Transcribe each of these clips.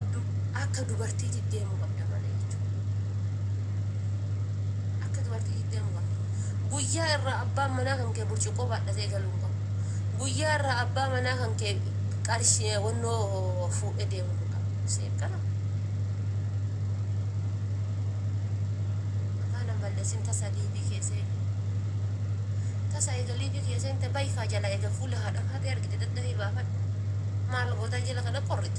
Akka dubartiitit deemuu qabda mana jechuun. Akka dubartiitit deemuu qabda. Guyyaa irraa abbaan manaa kan kee burcuqqoo baadhatee galuu hin qabu. Guyyaa irraa abbaa manaa kan kee qarshi wannoo fuudhee deemuu hin qabu. Seef kana. Makaan hin balleessin tasa liibii kee seeni. Tasa eega liibii kee seente bayikaa jala eega fuula haadha kaatee argite daddafii baafadhu. Maal gootaa jila kana qorrita.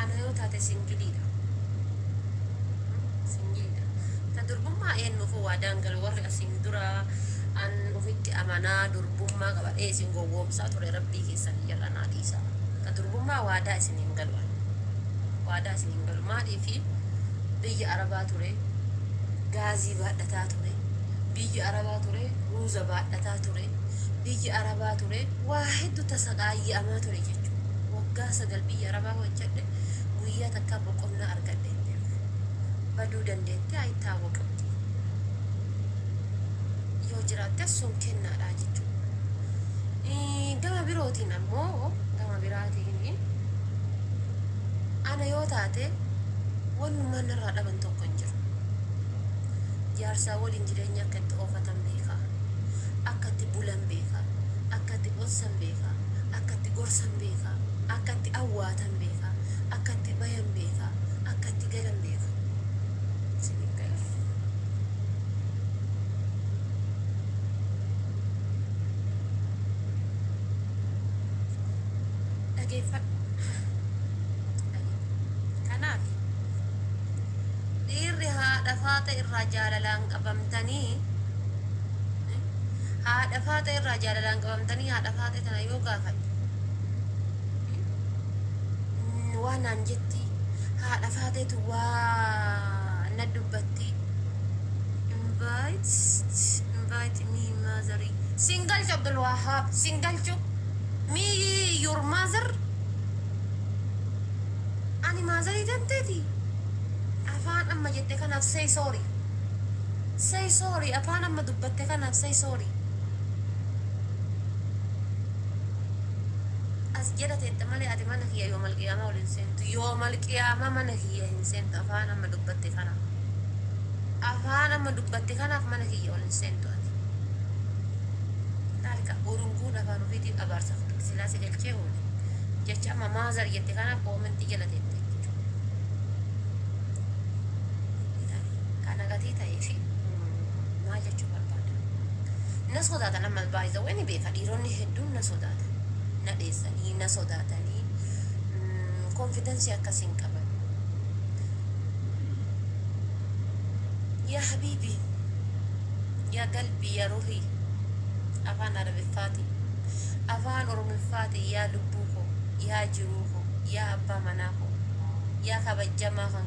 Ana yoo taate singiliidha. Singiliidha. Ta durbummaa eennuuf waa daangale warri asiin dura an ofitti amanaa durbummaa qabadhee isin gowwoomsaa ture rabbii keessan hin jal'anaa dhiisaa. Ta durbummaa waadaa isin hin galu an. Waadaa isin hin galu maaliifi biyya arabaa ture gaazii baadhataa ture biyya arabaa ture ruuza baadhataa ture biyya arabaa ture Waa heddu tasaqaayya'amaa ture jechuu. Waggaa sagal biyya Arabaa hojjadhe, guyyaa takkaa boqonnaa argadhe hin beeku. Baduu dandeetti, ayitaawaqamti. Yoo jiraattes sun kennaadhaa jechuu. Gama birootiin ammoo, gama biraatiin ana yoo taate wannummaan narraa dhaban tokko hin jiru. Jaarsaa waliin jireenya akka itti oofatan beeka. Akka itti bulan beeka. Akka itti onsan beeka. Akka itti gorsan beeka. Akka itti awwaatan beeka. Akka itti bayan beeka. Akka itti galan beeka. Isiniif gala. Dhageeffadhu. Kanaaf dhiirri haadha faaxe irraa jaalalaan qabamtanii. Haadha Faaxee irraa jaalalaan qabamtanii haadha Faaxee tana yoo gaafadhe waa naan jetti, haadha Faaxeetu waa na dubbatti. Invite, invite me mother. Sin galchu Abdul Wahab, sin galchu. Me your mother. Ani maazarii danteeti. Afaan amma jette kanaaf say sorry. Say sorry afaan amma dubbatte kanaaf say sorry. As jala teetta malee ati mana kiyya yoomal qiyaamaa ol hin seentu. Yoomal qiyaamaa mana kiyya hin seentu afaan amma dubbatte kanaaf. Afaan amma dubbatte kanaaf mana kiyya ol hin seentu ati. Laalika urunguun afaan ofiitiin abaarsa fudhatte silaa si galchee oole. Jecha amma maazar jette kanaaf koomentii jala teetta jechuudha. Kan ana gatii ta'eefi maal jechuu barbaada? Na sodaatan ammas by the way ni beeka dhiironni hedduun na sodaatan na dheessanii na sodaatanii confidence akkas hin qaban yaa habiibii yaa galbii yaa ruhii afaan arabiffaatii afaan oromiffaatii yaa lubbuu koo yaa jiruu koo yaa abbaa manaa koo yaa kabajjamaa kan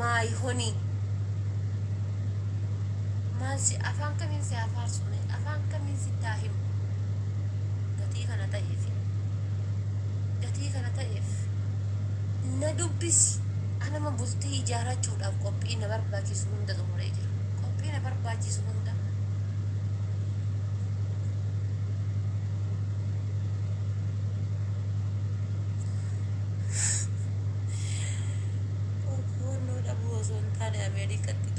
My honey maal si afaan kamiin si haa faarsu mee afaan kamiin sitti haa himu gatii kana ta'eef gatii kana ta'eef na dubbisi anama bultii ijaarachuudhaaf qophii na barbaachisu hunda xumuree jira qophii na barbaachisu hunda Hubannoo dhabuu osoo hin taane Ameerikatti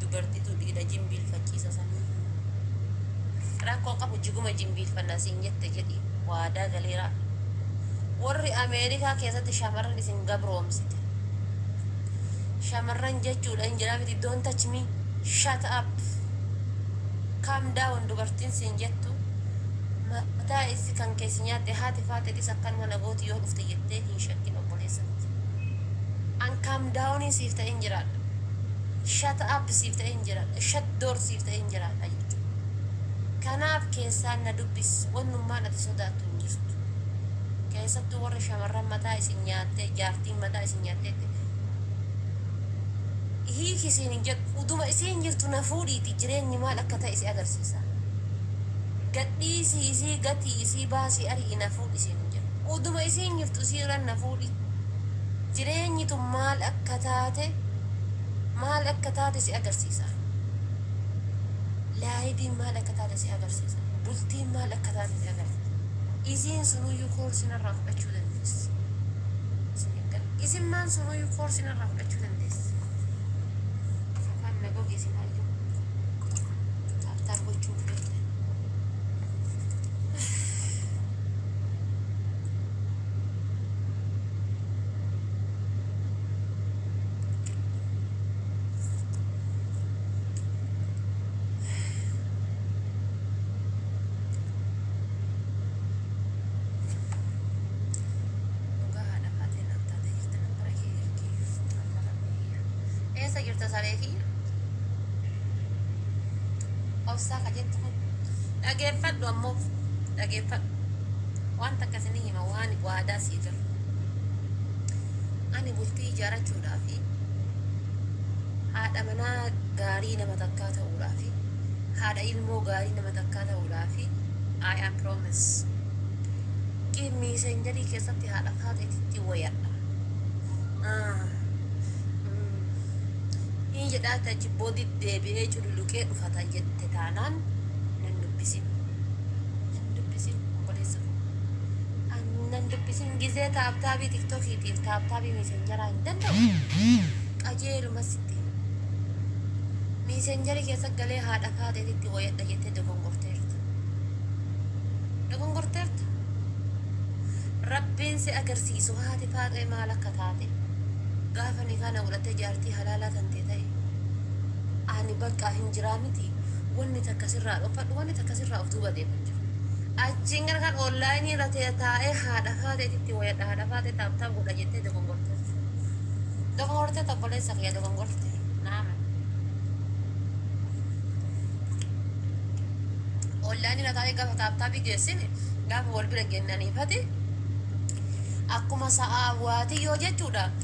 dubartiitu dhiira jimbiilfachiisa saniifu. Rakkoo qabu jiguma jimbiilfanna siin jette jedhi waadaa galeera. Warri Ameerikaa keessatti shamarran isin gabroomsite. Shamarran jechuudha hin jedhaa miti don't touch me shut up calm down dubartiin siin jettu mataa issi kan keessi nyaatte haati faate dhis akkanuma nagooti. Ati yoo dhufte jettee hin shakkin obboleessa ko ti. An calm down siif ta'een jiraadha. Shut up siif ta'een jiraadha. Shut door siif ta'een jiraadha jechuudha. Kanaaf keessaan na dubbis wannummaan ati sodaattu hin jirtu. Keessattuu warri shamarran mataa isin nyaattee jaartiin mataa isin nyaatteetti hiiki siin hin jedhu. Uduma isiin jirtu na fuudhiiti jireenyi maal akka ta'e si agarsiisa. Gadhiisii isii gatii isii baasii ari'i na fuudhi isiin hin jedhu. Uduma isiin jirtu isii irra na fuudhi. Jireenyi tun maal akka taate maal akka taate si agarsiisa. Laayiviin maal akka taate si agarsiisa. Bultiin maal akka taate si agarsiisa. Isiin sunuyyuu koorsii narraa fudhachuu dandeessi. Isin hin galu. Isimmaan sunuyyuu koorsii narraa fudhachuu dandeessi. Afaan na goge isimaayyuu. Taaptaap gochuun feetan. Dhugaa haadha maatii naaf taatee jirta nan bara kee ergee amma rabbi kiyya. Eessa jirta saree kiyya? Obsaa ka jettu kun. Dhageeffadhu ammoo dhageeffadhu. Waan takka isinii hima waan waadaa sii galu. Ani bultii ijaarachuudhaaf haadha manaa gaarii nama takkaa ta'uudhaaf haadha ilmoo gaarii nama takkaa ta'uudhaaf I am promise. Give me senjarii keessatti haadha faaxeetitti wayadha. Ah, mm. Hin jedhaa tachi body deebi'ee cululuqee dhufata jette. Itti taanaan nan dubbisin. Nan dubbisin obboleessa koo. An nan dubbisin gizee taaptaabii tiktokiitiif taaptaabii miisenjaraa hin danda'u. Qajeeluma sitti hima. Miisenjarii keessa galee haadha faaxeetitti wayadha jettee dogongorteerta. Dogongorteerta. Rabbiin si agarsiisu haati faaxee maal akka taate gaafa nikaa na godhattee jaartii halaalaa tantee ta'e. Ani bakka hin jiraa miti wanni takka sirraa dhokfadhu wanni takka sirraa of duuba deeman jiru. Achiin gara kan online irra ta'e taa'ee haadha faaxeetitti wayadha haadha faaxee taap taap godha jettee dogongortee. Dogongortee tobboleessa kiyya dogongorte naama. Online irra taa'ee gaafa taap taapi geessin gaafa wal bira geennaniifati akkuma sa'aa waatiyyoo jechuudha.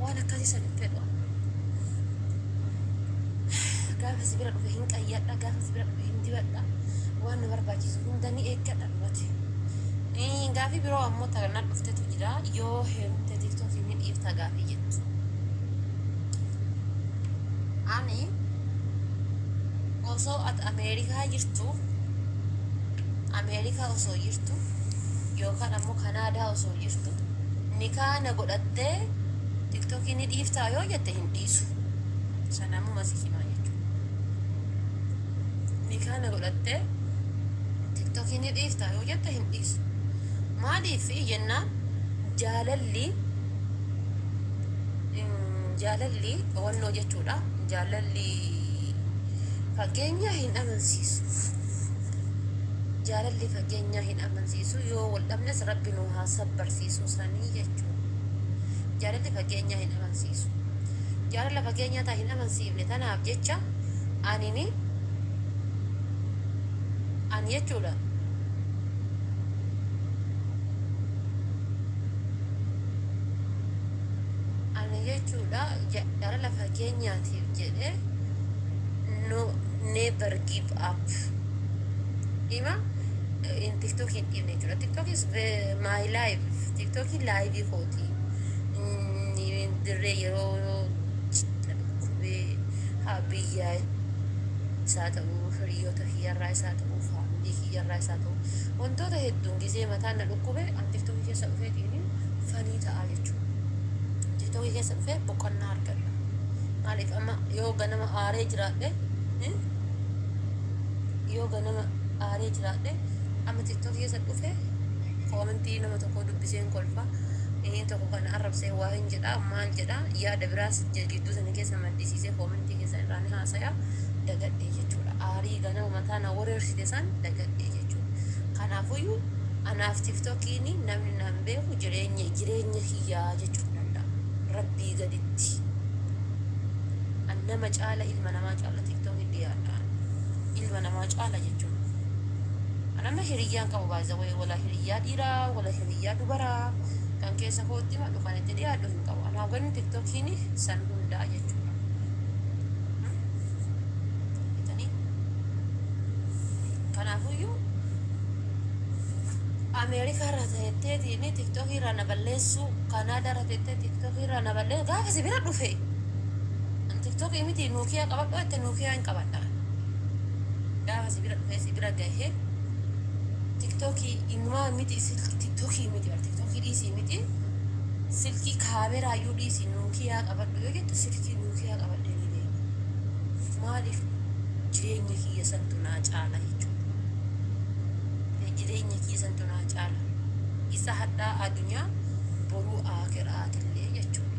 waan akkasii san hin fedhu ani. gaafa si bira dhufe hin qayyadha gaafa si bira dhufe hin dibadha waan na barbaachisu hunda ni eeggadha dhugati Ii, gaafii biroo ammoo ta na dhuftetu jira yoo heerumte tiktookii ni dhiifta gaafii jettu ani osoo at ameerikaa jirtu ameerikaa osoo jirtu yookaan ammoo kanaadaa osoo jirtu Nikaa na godhattee tiktokii ni dhiiftaa yoo jette hin dhiisu sana ammoo masi himaa jechuudha Nikaa na godhattee tiktokii ni dhiiftaa yoo jette hin dhiisu maaliif jennaan jaalalli jaalalli dhowannoo jechuudha jaalalli fageenyaa hin amansiisu jaalalli fageenyaa hin amansiisuu yoo wal dhabnes rabbi nu haa sabbarsiisuu sanii jechuudha jaalalli fageenyaa hin amansiisu jaalala fageenyaa taa hin amansiifne tanaaf jecha anini ani jechuudha ani jechuudha ja- jaalala fageenyaatiif jedhe no never give up ima in tiktok hin dhiifne jechuudha tiktok is my live tiktok live kooti in dirree yeroo dhukkubee haa biyyaa isaa ta'uu hiriyoota kiyyarraa isaa ta'uu faamilii kiyyarraa isaa ta'uu wantoota hedduun gizee mataan na dhukkube an tiktok keessa dhufeetiin fanii ta'aa jechuudha tiktok keessa dhufee boqonnaa argadha maaliif amma yoo ganama aaree jiraadhe yoo ganama aaree jiraadhe amma tiktok keessa dhufe koomentii nama tokkoo dubbiseen kolfa inni tokko kana arrabsee waa hin jedha maal jedha yaada biraas gidduu sana keessa maddisiisee koomentii keessan irraa ni haasaya dagadhee jechuudha aarii ganama mataa na wareersite san dagadhee jechuudha kanaafuyyuu anaaf tiktokiin namni naan beeku jireenya jireenya kiyyaa jechuun danda'a rabbii gaditti an nama caala ilma namaa caala tiktok dhiyaadha ilma namaa caala jechuun an amma hiriyyaan qabu by the way wala hiriyyaa dhiiraa wala hiriyyaa dubaraa kan keessa kootti madhu kan itti dhiyaadhu hin qabu anaa ganni tiktokiin san hundaa jechuudha itanii kanaafuyyuu ameerikaa irraa ta'etteetiin tiktokii irraa na balleessuu kanaadaa irraa ta'ettee tiktokii irraa na balleessuu gaafa si bira dhufe An tiktoki miti nokia qabadhu jette nokia hin qabadha gaafa si bira dhufee si bira gahe tiktoki inuma miti silki tiktoki miti bar tiktoki dhiisi miti silki kaameraa iyyuu dhiisi nokia qabadhu yoo jette silki nokia qabadhe ni deema maaliif jireenya kiyya santu naa caala jechuudha jireenya kiyya santu naa caala isa hadhaa adunyaa boruu aakiraatillee jechuudha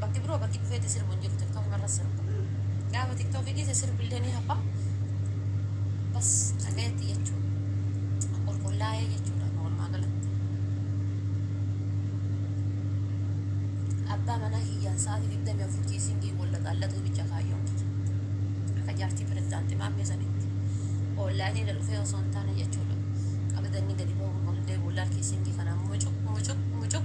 Bakki biroo bakki dhufeeti sirbu hin jiru tiktok marra sirba. Gaafa tiktok dhiise sirbi illee ni hafa. Bas dhagayetti jechuu. Qulqullaa'ee jechuudha amma walumaa galatti. Abbaa manaa kiyyaan sa'aatii digdamii afur kiisiingii wal laqaallatuu bicha kaayyoon kiyya. Akka jaartii pirezidaantii maammee sanitti. Oonlaayinii irra dhufee osoo hin taane jechuudha. Qabadanni gadi bahuun ol deebi'u laal kiisiingii kana mucuq mucuq mucuq.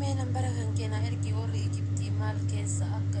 Mee nambara kan keenaa ergi warri Ijiptii maal keessa akka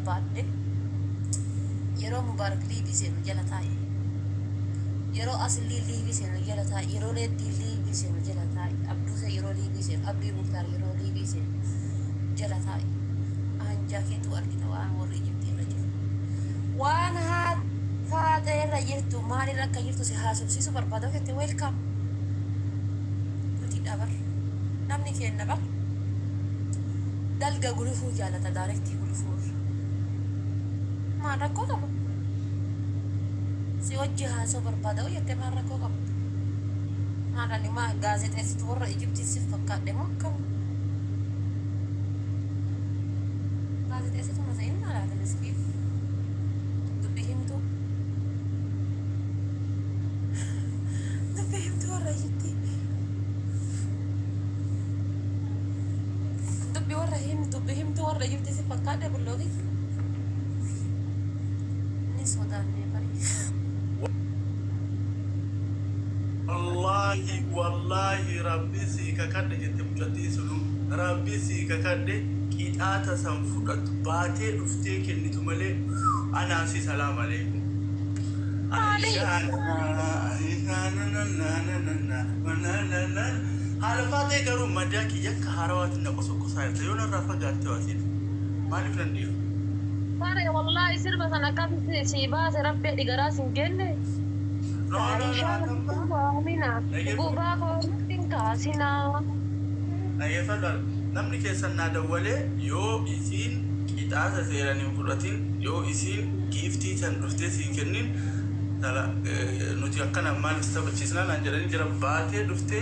barbaadde yeroo Mubaarak liivii seenu jala taa'i. Yeroo Asliin liivii seenu jala taa'i. Yeroo Reeddiin liivii seenu jala taa'i. Abduuseen yeroo liivii seenu, Abdii Muktaar yeroo liivii seenu jala taa'i. Aanjaa keetuu argita waan warri Ijiptii irra jiru. Waan haa Faaxee irra jirtu maal irra akka jirtu si haasofsiisuu barbaada yoo jette welcome. Dutiidha bar. Namni keenna bar. Dalga gulufuu jaalata direct. Ulfuuf. Maal rakkoo qaba? Si wajji haasa'uu barbaada hoo jettee maal rakkoo qaba? Maal ani maa gaazexeessitu warra Ijiptii sif fakkaadhe moo akkam? Gaazexeessituma ta'in maal ati miskiin dubbii himtuu. Dubbii himtuu warra Ijiptii. Dubbii warra himtuu. Dubbi himtuu warra jirti si fakkaadhe bulloogi. Ni sodaanne bari. Wallaahi wallaahi rabbi sii kakadhe jette mucattiin sunu rabbi sii kakadhe qixaata san fudhattu baatee dhuftee kennitu malee anaa si salaam aleeykum Aishaan Aishaan nananananana manananana haala faatee garuu madaa kiyya haarawaati na qosokkosaa jirta yoo narraa fagaattehoo atiin maaliif nan dhiifa. Saree wallahi sirba san akkamitti sii baase rabbi adi garaa sin genne. Aisha Aisha Amina dhugugaa koo natti hin kaasinaa. Dhageeffadha namni keessan naa dawwalee yoo isiin qixaasa seeran hin fudhatin yoo isiin giiftii tan dhuftee siin kennin nuti akkana maal si taphachiisnaa naan jedhanii jira baatee dhuftee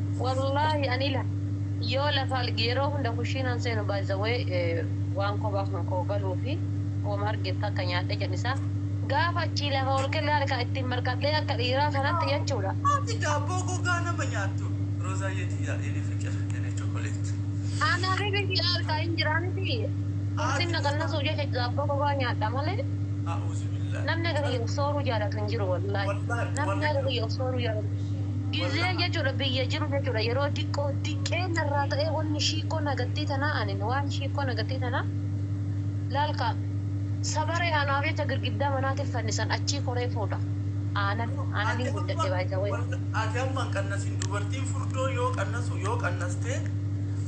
Wallahi ani la, yoo lafa alge yeroo hunda kushiinan seenu by the way waan kopha kan koo galuufi woma arge takka nyaadhe janisa gaafa achii lafa ol kelle harka ittin marqadhee akka dhiiraa kanatti jechudha. Ati daabboo gogaa nama nyaattu Rozaayyee tiyyaa yene fiqir yene chocolate. An habibi kiyya harkaa hin jiraa miti ulfin na qannasuuf jecha daabboo gogaa nyaadha malee A'uuzubillaah. namni akka kiyya of sooruu jaalatu hin jiru wallahi namni akka kiyya of sooruu jaalatu. Gizeen jechuudha biyya jiru jechuudha yeroo diqqoo diqqee narraa ta'ee wanni shiikkoo nagattii tanaa anin waan shiikkoo nagattii tanaa laal kaa sabaree anaaf jecha girgiddaa manaatin fannisan achii koree fuudha aanan aananin guddadhe by the way. Ati amma hin qannasin dubartiin furdoo yoo qannasu yoo qannaste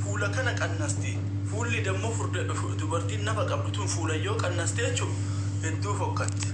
fuula kana qannasti fuulli dammo furda dubartiin nafa qabdu tun fuulan yoo qannaste jechu hedduu fokkatti.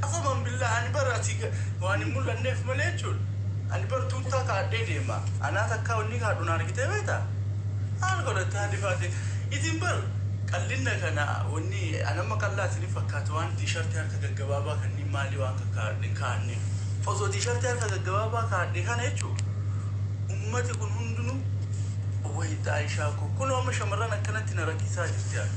Qafaman billaa ani bar ati waan hin mul'anneef malee jechuun ani bar tuuttaa kaadhee deema anaa takkaa wanni kaadhu na argitee beeta maal godhatte haa dhifaate isin bar qallinna kana wanni an amma qallaa isin hin fakkaatu waan tiishartii harka gaggabaabaa kanniin maalii waan kakkaadhe hin kaadne osoo tiishartii harka gaggabaabaa kaadhe kana jechuu ummati kun hundinuu wayii xaayishaa koo kunoo amma shamarran akkanatti na rakkisaa jirti ani.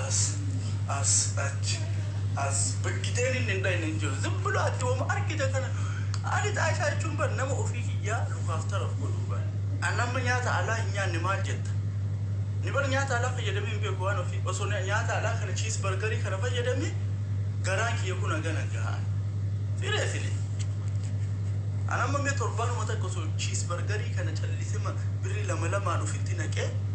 As as achi as biggiteen inni hin dhayne hin jiru. Zim bilo ati woma argite kana ani xaayishaa jechuun bar nama ofii kiyyaa lukaaf taraf godhuu bar. An amma nyaata alaa hin nyaanne maal jetta? Ni bar nyaata alaa fayyadamee hin beeku waan ofii osoo nyaata alaa kana chiis bargarii kana fayyadamee garaan kiyya kun hagana gaha an. Sireesili. An amma mee torbaanuma takka osoo chiis bargarii kana callisema birri lama lamaan ofitti naqee.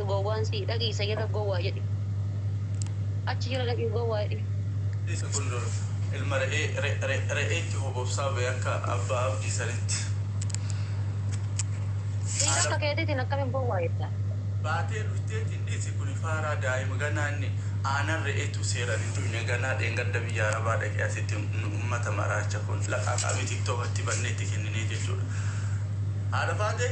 Gowwaan sii dhagii sayada gowaa jedhi achi jira dhaqii gowaa jedhi. Isa kun ilma re'ee re'eetti hobobsaa bee akka abbaa abdii sanitti. Dhiira akka keetiitiin akkamiin gowwaa jettaa. Baatee dhufteeti dhisi kuni faaraa daa'ima ganaa inni aanan re'eetu seeran hin dhuyne ganaa dheengadda biyya arabaa dhaqee asitti nu ummata maraacha kun laqaaqa mii tiktok atti bannee itti kenninee jechuudha haadha faatee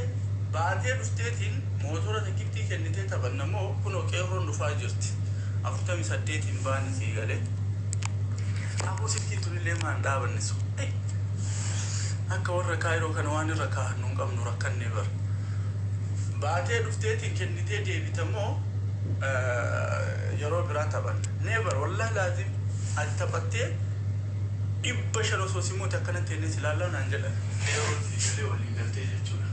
baatee dhufteetiin Mootora tikittii kennitee taphanna moo kunoo qeerroon dhufaa jirti 48 hin baane sii galee. Aboo silkiin tun illee maa hin dhaabanne so ayii akka warra kaayiroo kana waan irra kaahannu hin qabnu rakkanne bar baatee dhufteetiin kennitee deebita moo yeroo biraa taphanna never wallahi laazim ati taphattee 500 osoo si moote akkanatti jennee si laallaa naan jedhan qeerroon sii galee walii galtee jechuudha.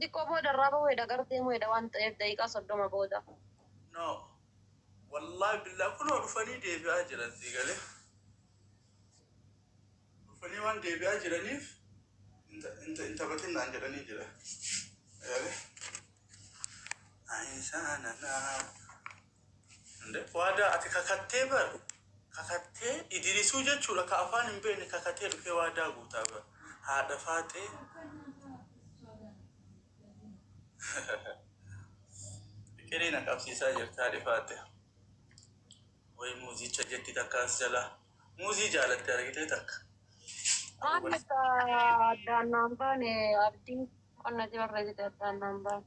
Xiqqoo booda irraa bahu heda gar deemu heda waan ta'eef daqiiqaa 30 booda. No wallahi billah kunoo dhufanii deebi'aa jiran sii galee dhufanii waan deebi'aa jiraniif hin ta- hin ta- hin taphatin naan jedhanii jira galee Ayisaananaa. Waadaa ati kakattee bar kakattee idirisuu jechuudha ka afaan hin beekne kakatee dhufee waadaa guutaa bar haadha faaxee fiqirii na qabsiisaa jirti haadhi faaxee way muuzicha jetti takka as jalaa muuzii jaalatte argitee takka Waan akka addaan naan baane abdii qonna si barreessite addaan naan baane.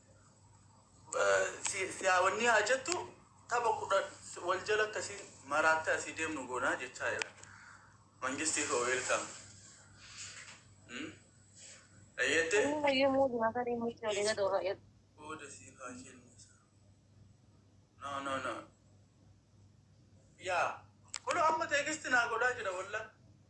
si si haa wanni haa jettu tapha kudha wal jala akkasiin maraattee asii deemnu goonaa jechaa jira. Mangistii koo weelkaam. Dhageette? Booda siif haa kennu. No no no. Yaa kunoo amma teekisti naa godhaa jira wallah.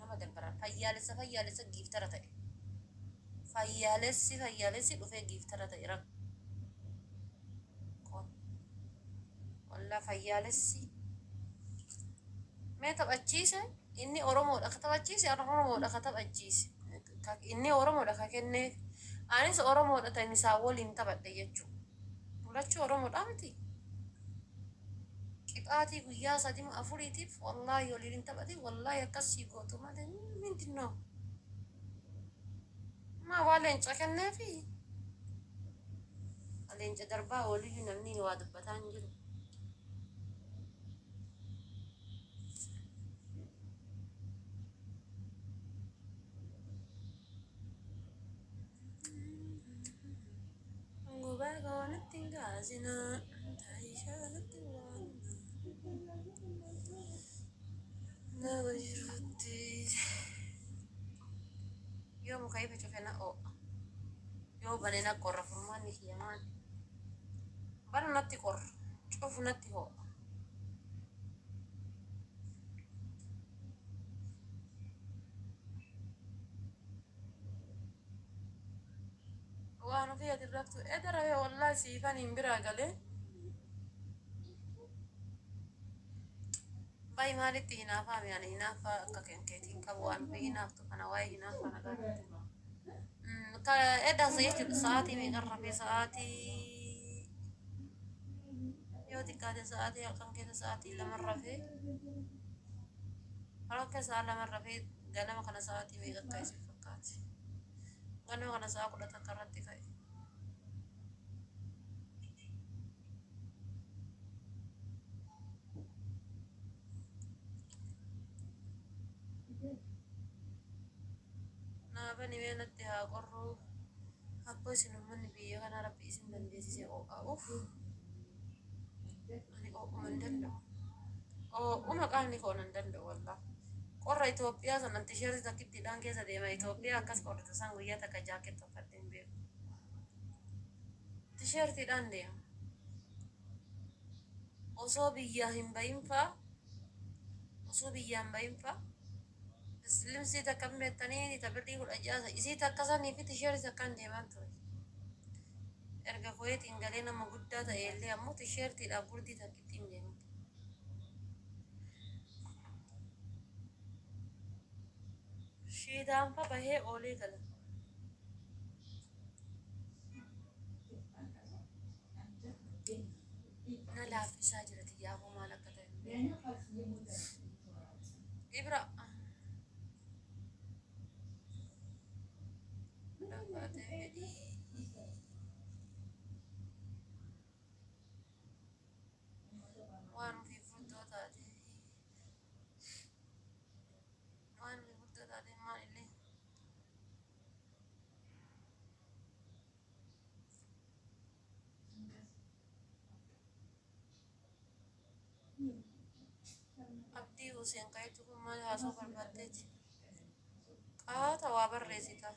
nama gargaraan fayyaalessa fayyaalessa giiftara ta'e fayyaalessi fayyaalessi dhufee giiftara ta'e rak kun walla fayyaalessi mee taphachiise inni oromoodha ka taphachiise an oromoodha ka taphachiise Ka- inni oromoodha ka kenneef anis oromoodha ta'in isaa waliin taphadhe jechuudha Bulachuu Oromodhaa miti? Qixaatii guyyaa sadima afuriitiif wallahi waliin hin taphatin wallahi akkas sii gootu malee mindin noo. Maa waa leenca kenneefi? Leenca darbaa ooliyyu namni waa dubbataa hin jiru. Gubaa koo natti hin kaasinaa, taayishaa natti hin waamnaa. Nama jirutti yoo muka ifa cufe na oo'a, yoo bane na qorra furmaanni kiyya maali? Banu natti qorra, cufu natti hoo'a. Waan ofii ati raftu eda rafe wallahi siifan hin biraa galee. Bayi maalitti hinaafaa mi'aan hinaaffaa akka kenkeetiin qabu waan ofii hinaaftu kana waa'ee hinaaffaa na gaafate. Ka edaasa jechuudha sa'aatii meeqan rafee sa'aatii yoo xiqqaate sa'aatii halkan keessa sa'aatii laman rafee halkan keessa sa'aa laman rafee Ganama kana sa'aatii meeqa akka isin fakkaate? Ganama kana sa'a kudha takka irratti ka'e. Naafani mee natti haa qorru. Akkoo isin uummanni biyya kanaa rabbi isin dandeessise oo'aa'uuf. Ani oo'uma hin danda'u. Oo'uma qaamni koo nan danda'u wallah. Qorra Itoophiyaa sanan tisheertii takkittiidhaan keessa deema. Itoophiyaa akkas qorri tasaan guyyaa takka jaakkeet tokkadhee hin beeku. Tisheertiidhaan deema. Osoo biyyaa hin bahin faa osoo biyyaa hin bahin faa Slimsii takka hin beektanii ta birrii kudha ja'a isii takka sanii fi tisheeris akkaan deemaan ture. Erga kuweetiin galee nama guddaa ta'e illee ammoo tisheertiidhaaf gurdii takkitti hin deeman. Shiidaan fa bahee oolee gala. Na laaffisaa jira tiyyaa hoo maal akka ta'e. Ibra. Lafaatee fedhii. Waan ofii furtoo taatee. Waan ofii furtoo taatee maalillee. Abdii Huseen qajeeltu kun maal haasoo barbaaddeeti? Qaata waa barreessita.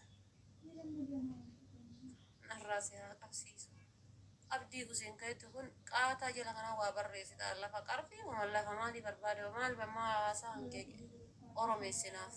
Narraa si haa qabsiisu. Abdii Huseen qajeeltu kun qaataa jala kanaa waa barreessita. Lafa qarfii moo lafa maalii barbaade moo maal maal haasaa hangee oromeessinaaf.